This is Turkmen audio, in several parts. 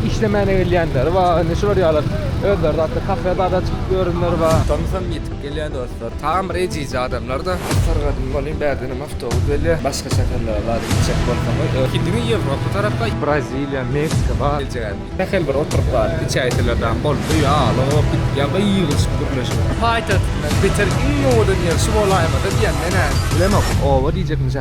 Işlemäne gelýänleri bar, indi şular ýaly özleri zatda kafe zada çykyp ýörenleri bar. Tomsam ýetip gelýär dostlar. Tagam bir ejiz adamlarda. Sargadym bolýn bärdenem awtobus gelýär. Başga şäherlere zada gitjek bolsaň we ö. Gidiňiz Ýewropa tarapa. Braziliýa, Meksika bar. Geljegem. Sähel bir oturyp zat içäýseler dam boldy. Ýaly o ýa-da ýygylyşyp gürleşip. Paýtagtyndan beter iň owadan ýer şu bolaýmasa diýen menä. Bilemok. Oba diýjekmişä.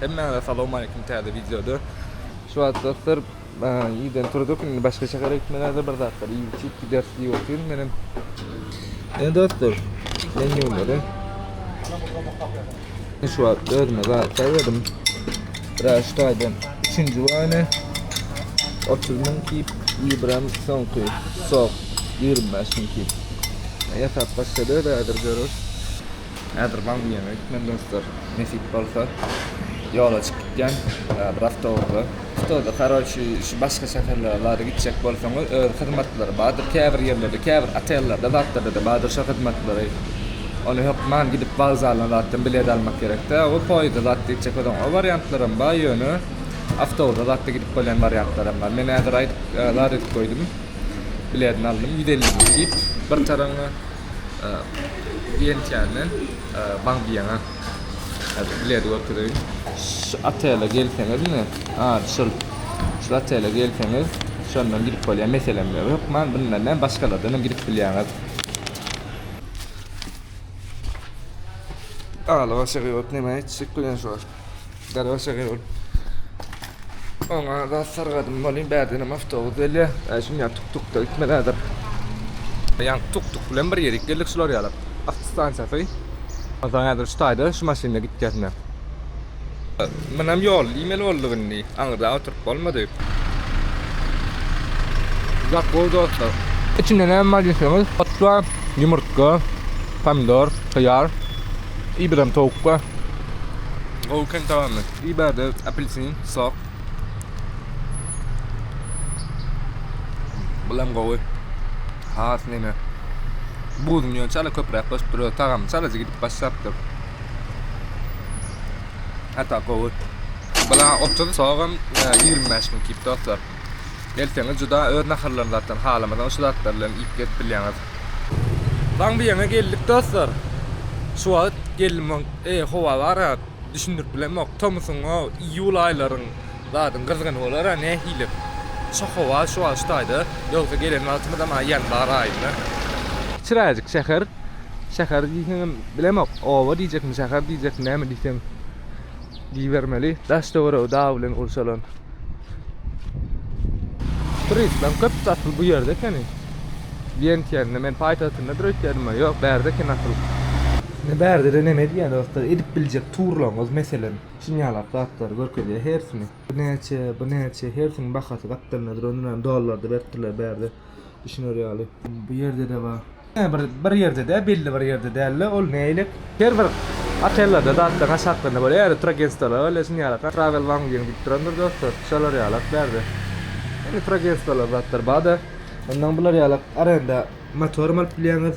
Hemmäňize salowmaleýkim täze wideoda. Şu wagt dostlar ýydan turduk indi başga şähere gitmelerde bir zatlar iýip içip gideris diýip otyryn menem. Ene dostlar men ýuwmaly. Şu wagt özüme zat saýladym. Biraz şu taýdan 3-nji wany 30 müň kip ýybrym soňky sok 25 müň kip. Ýasap başlady özädir görüş. Häzir Wangýuana gitmeli dostlar. Nesip bolsa ýola çykyp gidýän. Bir awtobusda. Stoda karoçi şu başga şäherlere zady gitjek bolsaňyz öz hyzmatlary bardyr käbir ýerlerde käbir otellerde zatlarda-da bardyr şo hyzmatlary. Ony hökman gidip wokzaldan zatdan bilet almak gerek däl we poýezda zatda gitjek bolsaň o wariantlaram bar ýöne awtobusda zatda gidip bolýan wariantlaram bar. Men häzir aýdyp zat edip goýdum. Biledini aldym ýüz elli diýip bir taraňa. Diýençäme Baňbiýaňa bilet götüreýin. Şu otele gelseňiz ine, ady şul. Şu otele gelseňiz, şondan gidip bolýar, meselem ýok. Hökman bundan däl, başgalardan hem gidip bilýäňiz. Alybaşa gybat näme aýtjak bilen şo. Garaşa gel. Oňa da sargadym bolýan bädenem awtobus gelýär. Şum ýa tuk tuk da gitmelidir. Ýa tuk tuk bilen bir ýerik geldik şular ýalap. Awto stansiýasy. Onsoň häzir şu taýda şu maşynda gitýäs men. Munem ýol diýmeli bolduk indi. Aňyrda oturyp bolmady. Uzak bol dostlar. Içinde näme bar diýseňiz, ot bar, ýumurtga, pomidor, hyýar. Ibram towukga gowy kän tagamly. Iberdi apelsin, sok. Bulam gowy. Has neme. Buzuň ýöne çala köpräk goşup duruyor. Tagamy çalaja gidip başlapdyr. Hata gowy. Bula otuz sogam 25 mün kip dostlar. Gelseňiz juda öz naharlaryňyzdan halamadan şu zatlar bilen iýip gezip bilýäňiz. Baň bu ýaňa geldik dostlar. Şu wagt geldim eý howa bara düşündirip bilemok tomusyňa iýul aýlaryň zadyň gyzgyny bolara nähili şu howa şu wagt şu taýda ýogsa gelen wagtymyzam aý ýanbar aýynda. Kiçiräjik şäher şäher diýseňem bilemok oba diýjekmi şäher diýjekmi näme diýseň. Diýibermeli, daş-töweregi dag bilen gurşalan. Turistlaň köpüsi asyl bu ýerde ekeni. Wientiýende, men paýtagtyndadyr öýtýädim-ä, ýok, bärde eken asyl. Indi bärde-de neme edýär dostlar, edip biljek turlaryňyz, meselem, şunýalak zatlary görkezýär hersini. Bu näçe, bu näçe, hersiniň bahasy gapdalyndadyr, ony dollarda beripdirler bärde. düşüner ýaly. Bu ýerde-de bar. Ýene bir bir ýerde däl, belli bir ýerde däl-de ol nälik? Her bir otellerde zatlaryň aşaklarynda bor ýaly Turagentstwolar bar, ýa şuny ýalaka Travel Wangýun diýip durandyr dostlar, şolar ýalak bärde. Indi Turagentstwolar zatlar bar-da, ondan bular ýalak arenda motoram alyp bilýäňiz.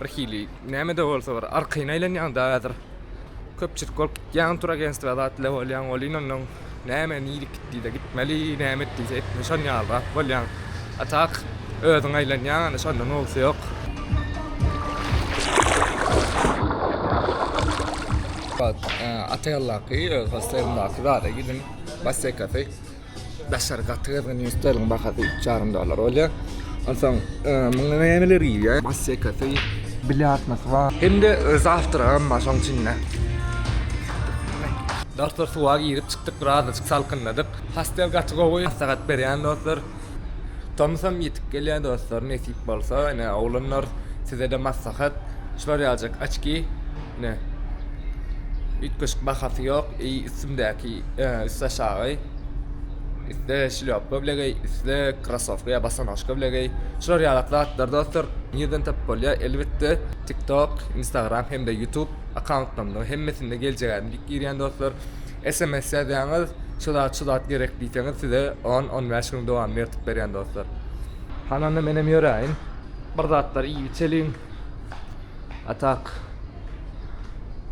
Bir hili näme-de bolsa bir arkaýyn aýlanýaň-da häzir. Köpçülik bolup gitýäň, turagentstwa zat ile bolýaň, welin onnoň näme nirek gitdi-de gitmeli, näme etdiyse etmeli şon ýalyrak bolýaň. A tak özüň aýlanýaň ony şonda nowusy ýok. Ata ýoldaky öz hostelindaky zada gidin, bassekasy. Daşary gaty gyzgyn ýüz sterling bahasy üç ýarym dollar bolýar. Onsoň muňa nämeler girýär? Mas sekasy, biljard masy bar. Hem-de zawtragam bar şoň içinde. Dostlar suwa girip çykdyk birazajyk salkynladyk. Hostel gaty gowy maslahat berýän dostlar. Tomusam ýetip gelýär dostlar nesip bolsa ine oglanlar sizede maslahat şular ýaljak açki. Ine, üýtgeşik bahasy ýok, eý, üstümdäki, üstaşagy, üste şlýopa bilegeý, üste krosowka ýa bosonožka bilegeý. Şular ýalak zatlar dostlar, nirden tapyp bolýar? Elbetde, TikTok, Instagram hem-de YouTube akkauntlarymda hemmesinde geljegäýdim diýip girýän dostlar. Sms ýazýaňyz, şu zat, şu zat gerek diýseňiz, size on, on bäş günüň dowamynda ýertip berýän dostlar. Hany onda menem ýöräýin, bir zatlar iýip-içeliň. A tak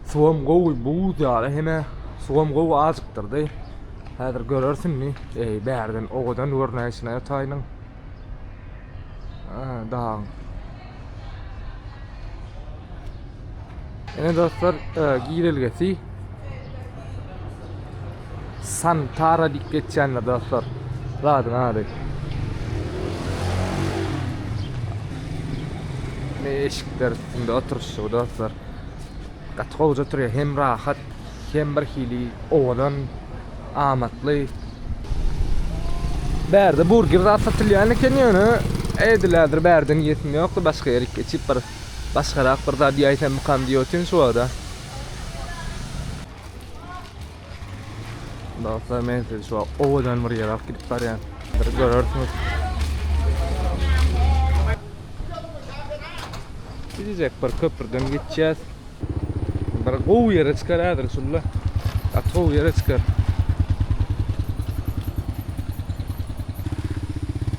suwam gowy buz ýaly hene suwam gowy ajykdyrdy. Häzir görersin mi? Eý, bärden owadan görnäýşine ýataýynyň. Aha, dagyň. Ene dostlar, e, girelgesi Santara diýip geçýändir dostlar zadyň ady. Ne eşikler üstünde oturyşy dostlar. Gaty gowy oturýar. Hem rahat, hem bir hili owadan, amatly. Bärde burger zat satylýan eken ýöne edilädir bärden ýesim ýokdy başga ýere geçip bir başgarak bir zat ýaýsamykam diýip otyryn şu wagta. Dostlar men sizi şu owadan bir ýere alyp gidip barýan. Bir görersiniz. Gidecek bir köprüden geçýäs. Bir gowy ýere çykar häzir şunda. At gowy ýere çykar.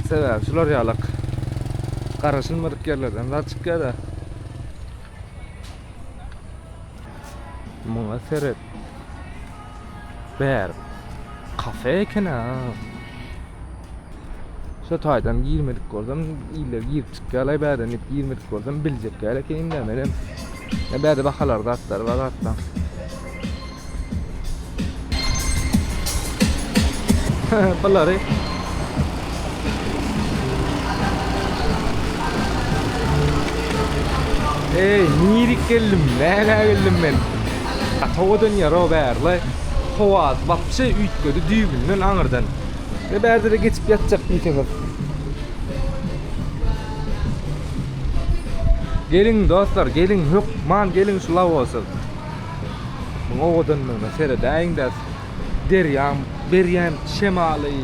Sebäbi şular ýalak. Garaşylmadyk ýerlerden zat çykýar-da. Muňa seret. Bäri kafe ekeni. Şu taýdan girmedik bolsam, iller girip çykýarlar bäden diýip girmedik bolsam biljekler ekeniň-dä menem. Bäde bahalar zatlar bar hatda. Bulary Ey, nirik geldim, näle geldim men. Atawa dönýär o bärli. Howaz, wapşe üýtgedi düýbünden aňyrdan. Ve bärde de geçip ýatjak diýseňiz. Geliň dostlar, geliň hökman geliň şu lawosa. Muň owadanlygyna seredäýiň-dä, derýaň berýän şemaly,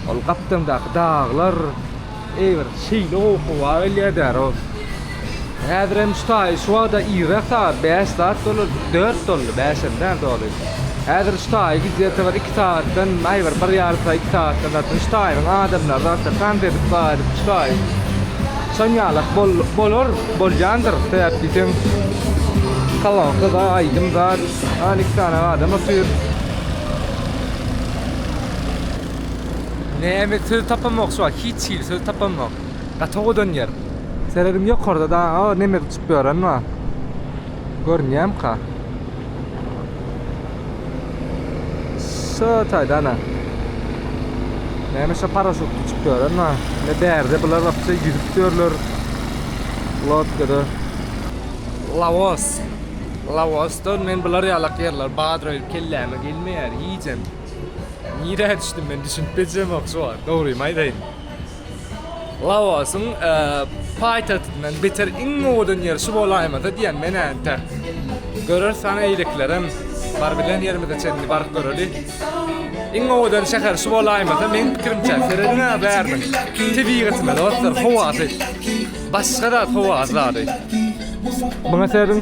ol gapdaňdaky daglar, eý, bir şeýle gowy howa gelýär-dä-row. Häzir hem şu taýy şu wagta irräk sagat bäş zat dolar, dört doldy, bäş hem däl doly. Häzir şu taýy gidýärkä bir iki sagatdan, aý, bir bir ýarym sagat, iki sagatdan zatdan şu taýynyň adamlary zatdan tans edip, baý edip şu taýy. Şon ýalak bol bolar bolýandyr sebäp diýseň kolonka da aýdym zat an iki sany adam otyr. Näme söz tapamok şu wagt hiç hili söz tapamok gaty owadan ýer. Serediň ýokarda daga neme uçup ýören bar. Görünýämka. Şu taýda ana. Näme şu paraşutly çykyp ýören ha? Ne bärde bular wapça ýüzüp ýörler. Lodkada. Laos. Laosdan men bular ýalak ýerler badroý kelläme gelmeýär iýjem. Nirä düşdüm men düşünip bilmejemok şu wagt dogrymy aýdaýyn. Laosyň paýtagtyndan beter iň owadan ýer şu bolaýmasa diýýän men-ä entek. Göreris sany eýleklerem bar bilen ýerimize çenli baryp göreli. Iň owadan şäher şu bolaýmasa meň pikirimçe serediň-ä bäriniň tebigatyna dostlar howasy başga zat howasy zady. Muňa serediň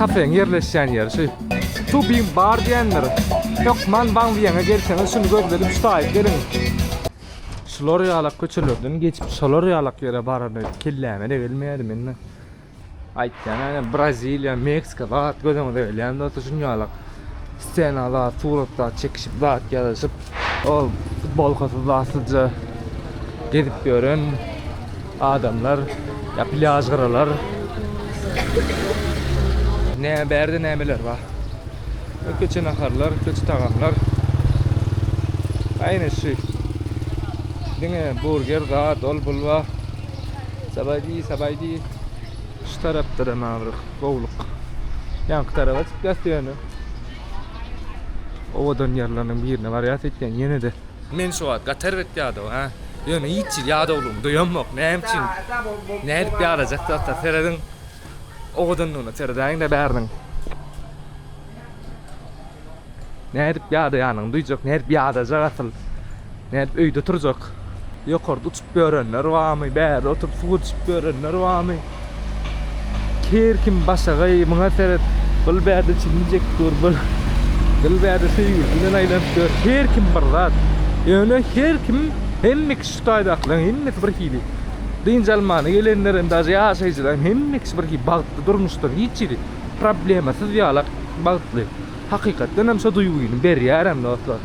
kafeň ýerleşýän ýeri şu. Tubim bar diýendir. Hökman Wangyýaňa gelseňiz şuny gözledip ştaýyp geliň. Şular ýalak köçelerden geçip şolar ýalak ýere barany kelläme-de gelmeýärdi mende. Aýtýan ene Braziliýa, Meksika zat gözüňize gelýän bolsa şuny ýalak stenalar, suratlar çekişip zat ýazyşyp, ol futbolkasyz zatsyzja gezip ýören Adamlar, ýa plýaž gyralar. Nä bärde nämeler bar. Ýa köçe naharlar, köçe tagamlar. Aýna şu. Diňe burger zat, ol bul bar. Sabaýdy, sabaýdy. Şu tarapda-da maňa bir gowluk. Ýaňky taraba çykýas ýöne. Owadan ýerleriniň birine barýas ekeni ýene-de. Men şu wagt gatar bet ýadaw, hä? Ýöne hiç hili ýadawlygymy duýamok. Näme üçin? Näme edip ýadajak zatlar? Serediň. Owadanlygyna seredäýiň-de bäriniň. Näme edip ýadaýanyny duýjak, näme edip ýadajak asyl? Näme edip öýde turjak? Ýokarda uçup. Görenler barmy bärde oturyp suw içip görenler barmy her kim başagaý muňa seret bil bärde çilini çekip gör bil bil bärde söýgülisi bilen aýlanyp gör her kim bir zat ýöne her kim hemme kişi şu taýdakylaryň hemmesi bir hili dynç almana gelenler hem daže ýaşaýjylaryň hemme kişi bir hili bagtly durmuşda hiç hili problemasyz ýalak bagtly hakykatdan hem şo duýgyny berýär hem dostlar.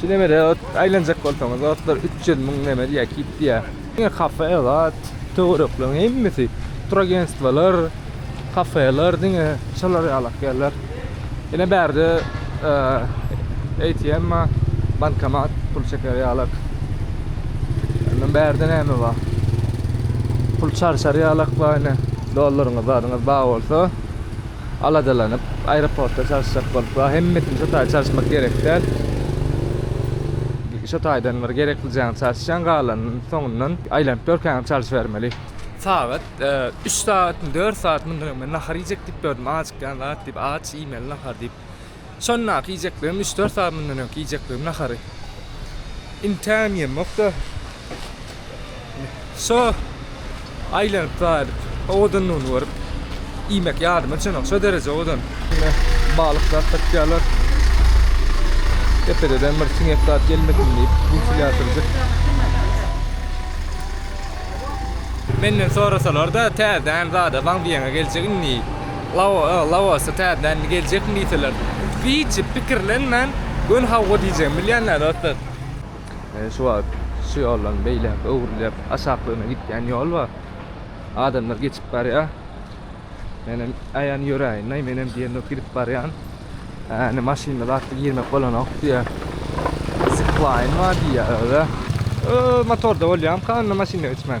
Şu nemede ot aýlanjak bolsaňyz, otlar 300 müň neme diýýär, kip diýýär. Ýa kafe, elat, töwerekleriň hemmesi turagentstwalar, kafeler diňe şolar ýalak ýerler. Ine bärde ATM bar, bankomat, pul çeker ýalak. Indi bärde näme bar? Pul çalşar ýalak bar ine. Dollaryňyz, zadyňyz bar bolsa, aladalanyp, aeroportda çalyşjak bolup bar. Hemmesini şo taýda çalyşmak gerek däl. Şo taýdan bir gerekli jaňy çalyşýaň, galanyny soňundan aýlanyp görkäňem çalyşybermeli. Sagat üç sagatmy, dört sagat mundan öň men nahar iýjek diýip ýördüm, ajykýan zat diýip, aç, iýmeli nahar diýip. Şondaky iýjeklerim üç-dört sagat mundan öňki iýjeklerim nahary. Intägem ýemokda. Şo aýlanyp gaýdyp, owadanlygyny görüp, iýmek ýadyma düşenok. Şo dereje owadan. Ine, balyk zat tapýarlar. Depededen bir siňek zat gelmesin diýip, wentilýatorjyk. Menden sorasalar-da, täzeden zada waň diýeňe geljek indi. Laosa täzeden indi geljekmi diýseler, hiç hili pikirlenmän, göni hawa diýjegimi bilýän däl dostlar. Ine şu wagt şu ýoldan beýläk öwrülýär. Aşaklygyna gitýän ýol bar. Adamlar geçip barýar. Menem aýan ýöräýin-aý, menem diýenok gidip barýan. Hä, indi maşynda zatda girmek bolanok diýýär. Ziplaýn bar diýýär özi. Ööö, motorda bolýamka onda maşynda geçmän.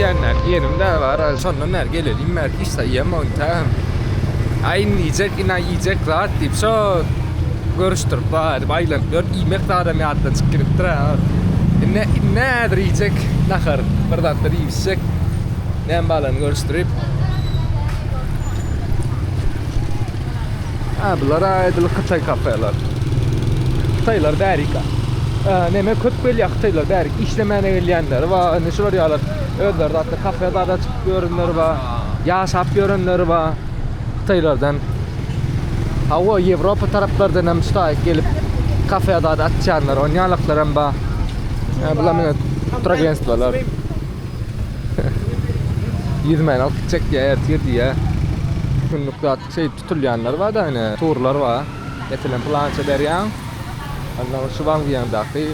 Diýenler, ýerim de bar, şondan bäri gelelim bäri hiç zat iýemogyn tä. Aýn iýjek, ina iýjek zat diýip, şo görüşdirip bar edip aýlanyp ýörüp, iýmek zadam ýatdan çykyp gidipdir. Indi nädir iýjek nahar, bir zatlar iýişjek. Näme balany görüşdirip. Ha, bular aýdyl hytaý kafeler. Hytaýlar bärika. Näme köp gelýär hytaýlar bärik işlemäne gelýänleri we indi şular ýaly özleri zatda kafe zada çykyp ýörenleri we ýaşap ýörenleri we hytaýlardan. Ha, o Ýewropa taraplardan hem ştaý gelip kafe zada açýanlar, onýalyklar hem bar. Ha, bular mine tragentstwalar. Ýüzmän alyp gitjek diýýä, ertir diýýä. Günlük zat şeýdip tutulýanlar bar-da ine, turlar bar. Meselem, pylança berýäň, onda ol şu wangzuýaňdaky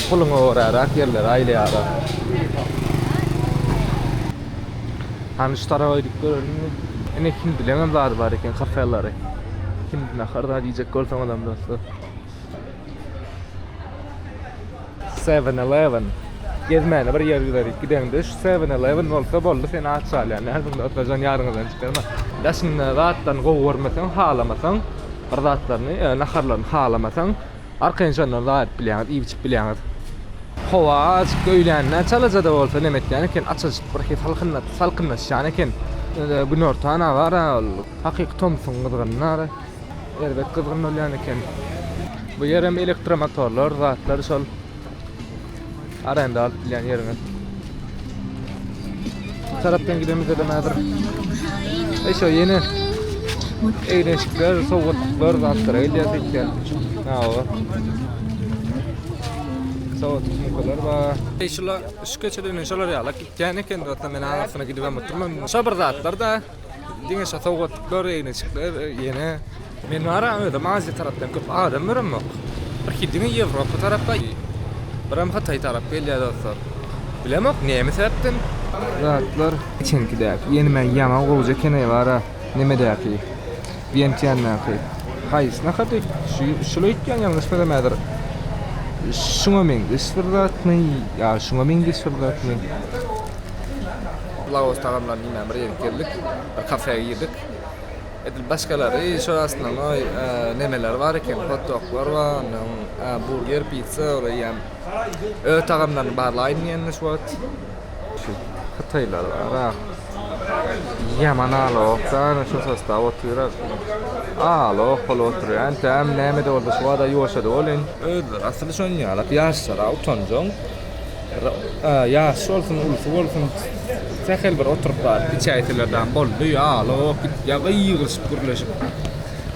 puluňa göräräk ýerleri aýlaýarlar. Hany şu tarap aýdyp göreliňmi? Ine, hindileňem zady bar eken, kafelary. Hindi nahary zat iýjek bolsaňyzam dostlar. Seven Eleven gezmäne bir ýer giderik gideňde şu Seven Eleven bolsa boldy seni açýarlar nädogry otlujan ýaryňyzdan çykarma daşyňda zatlaryny gowy görmeseň halamasaň bir zatlaryny ýa naharlaryny halamasaň arkaýyn şondan zat edip bilýäňiz iýip içip bilýäňiz howa açyk öýlände çalajada bolsa neme etýän eken açajyk birhi salkyn salkynlaşýan eken günorta ana bar a ol hakyky tomsuň gyzgynynda Erbet gyzgyn bolýan eken. Bu ýer hem elektromotorlar, zatlar şol arenda alyp bilýän ýeriňiz. Tarapdan gidemizde de häzir. E şo ýene eýrençikler, sowgatlyklar, zatlar gelýär söýtýän. Hawa. Sowat sumkalar bar. E şolar şu keçeden şolar ýalak gitýän eken, dostlar. Men aňyrsyna gidip hem oturman. Şo bir zatlar da. Diňe şu sowgatlyklar, egneçikler ýene men baram özüm Aziýa tarapdan köp adam göremok. Bir ki diňe Ýewropa tarapda biram Hytaý tarap gelýär dostlar. Bilemok näme sebäpden. Zatlar içinkidäki ýene men ýaňa gowja kene bara nemedäki. Vientiandaky haýsy nahar diýip şul aýtýan ýalňyş bilemädir. Şuňa meňzeş bir zatmy ýa şuňa meňzeş bir zatmy? Laos tagamlaryny diýmän bir ýere geldik. Bir kafeä girdik. Edil başgalary şol aslynda oý nemeler bar eken hotdoglar bar ondan soň burger, pizza ýa öe tagamlaryny barlaýyn diýenmiş wagt. Şu hytaýlar arak ýaman alawok däl, şu sostaw otyrak alawok bolup otyr. Entäm näme-de bolsa şu wada ýuwaşady welin. Özleri asyl şon ýalak ýaşlara utanjaň. Ä ýaş bolsun ulusy bolsun sähel bir oturyp bar içäýseler dam boldy ýa alawok git ýa gygyryşyp gürleşip.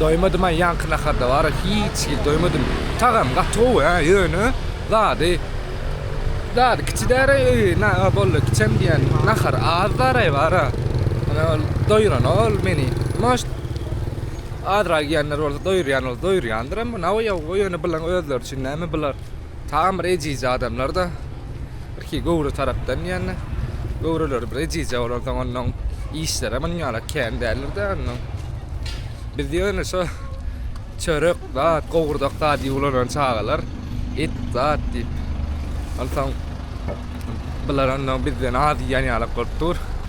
Doýmadymaý ýaňky naharda bara hiç hil doýmadym tagam gaty gowy hä ýöne zady zady kiçi däre naha boldy kiçem diýen nahar az daraý bara ine ol doýranok ol meni moşt azrak ýenler bolsa doýurýan bolsa doýurýandyram bu naoýa ýöne bulan özleri üçin näme bular tagam bir ejizje adamlarda Piki göwre tarapdan diýende, göwreleri bir ejizje bolansoň, onnoň işleri hem ynjalak kän däldir-dä, onnoň. Biz ýöne şo çörek zat, gowurdak zat ýuwlanan çagalar, et zat diýip, onsoň bular onnoň bizden az iýen ýalak bolup dur.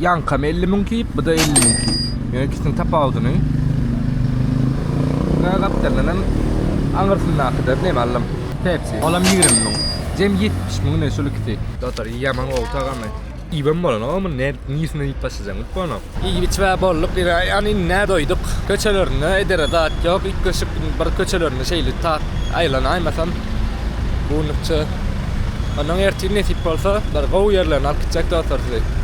Ýaňkam 50 müň tip, bu-da 50 müň tip. Ýöne ikisiniň tapawudyny Gaz gapdalyndan hem aňyrsyndakydan näme allam? Pepsi. Olam 20 müň. Jem 70 müň ne şol ikisi. Dostlar, ýaman gowy tagamy. Iýibem bolanok muny, ne nirsinden iýip başlajagyny bilip bolanok. Iýip-içibä bolduk, ýöne ýany indä doýduk. Köçelerinde edere zat ýok, üýtgeşik bir köçelerinde şeýle tak aýlanaýmasam bu günlükçe. Onnoň ertir nesip bolsa bir gowy ýerlerine alyp gitjek dostlar sizi.